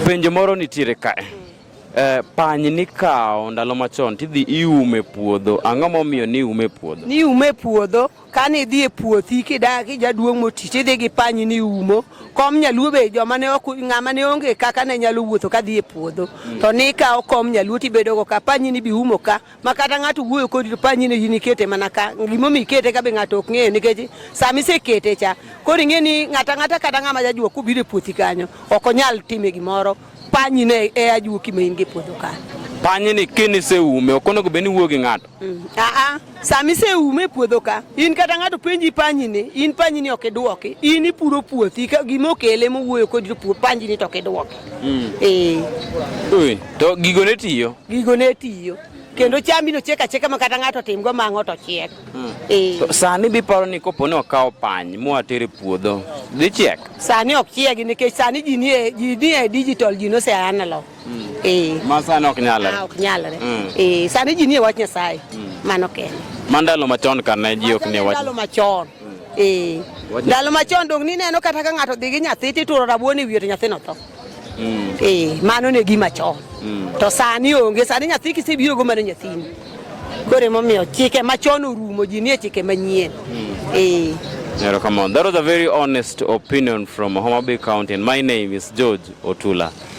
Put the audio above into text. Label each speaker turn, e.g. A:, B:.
A: Penjo moro nitiere kae. Eh, pany nikawo ndalo machon tidhi iume puodho. Ang'o momiyo ni ume puodho? Ni ume puodho
B: kane idhi e puothi kidak ijaduong' moti tidhi gi pany ni umo. Kom nyaluo be joma ne ok ng'ama ne onge kaka ne nyalo wuotho kadhi e puodho. Mm. To nikawo kom nyaluo tibedogo ka pany ni bi umo ka. ma kata ng'ato wuoyo kodi to panyi ni in ikete mana ka gimomiyo ikete ka be ng'ato ok ng'eyo nikech sama isekete cha koro ing'e ni ng'ato ang'ata kata ng'ama jajua kubiro e puothi kanyo ok onyal time gimoro panyi ne e ajua kima in gi puodho kanyo panyi ni kini
A: seume ok onego bed ni wuo gi ng'ato mm. aa ah, ah. sama
B: iseume e puodho ka in kata ng'ato penji panyi ni in panyi ni ok idwoki in ipuro puothi gima okele mowuoyo kodi panyi ni to ok idwoki Mm. Eh. Ui,
A: to gigo ne tiyo. Gigo ne tiyo.
B: Kendo chambi no chiek achieka ma kata ng'ato timgo mang'o to chiek. Mm. Eh. To
A: sani biparo ni kopo ni okawo pany mwa tere puodho, dhi chiek? Sani ok chiegi
B: nikech sani ji nie ji nie digital ji no se analog. Mm. Eh. Ma
A: sani ok nyalre. Ah, ok nyalre. Mm.
B: Eh, sani ji nie wach Nyasaye. Mm. Mano kende. Mandalo machon
A: kane ji ok nie wach. Mandalo machon.
B: Eh. Ndalo machon dong nineno kata ka ng'ato dhi gi nyathi tituro rabuon e wiye to nyathino tho. Mm. Eh, mano ne gima chon. Mm. To sani onge, sani nyathi kisebiro go mano nyathini. Koro emomiyo chike machon orumo, ji nie chike manyien.
A: Mm. Eh. Yeah, come on. That was a very honest opinion from Homa Bay County, and my name is George Otula.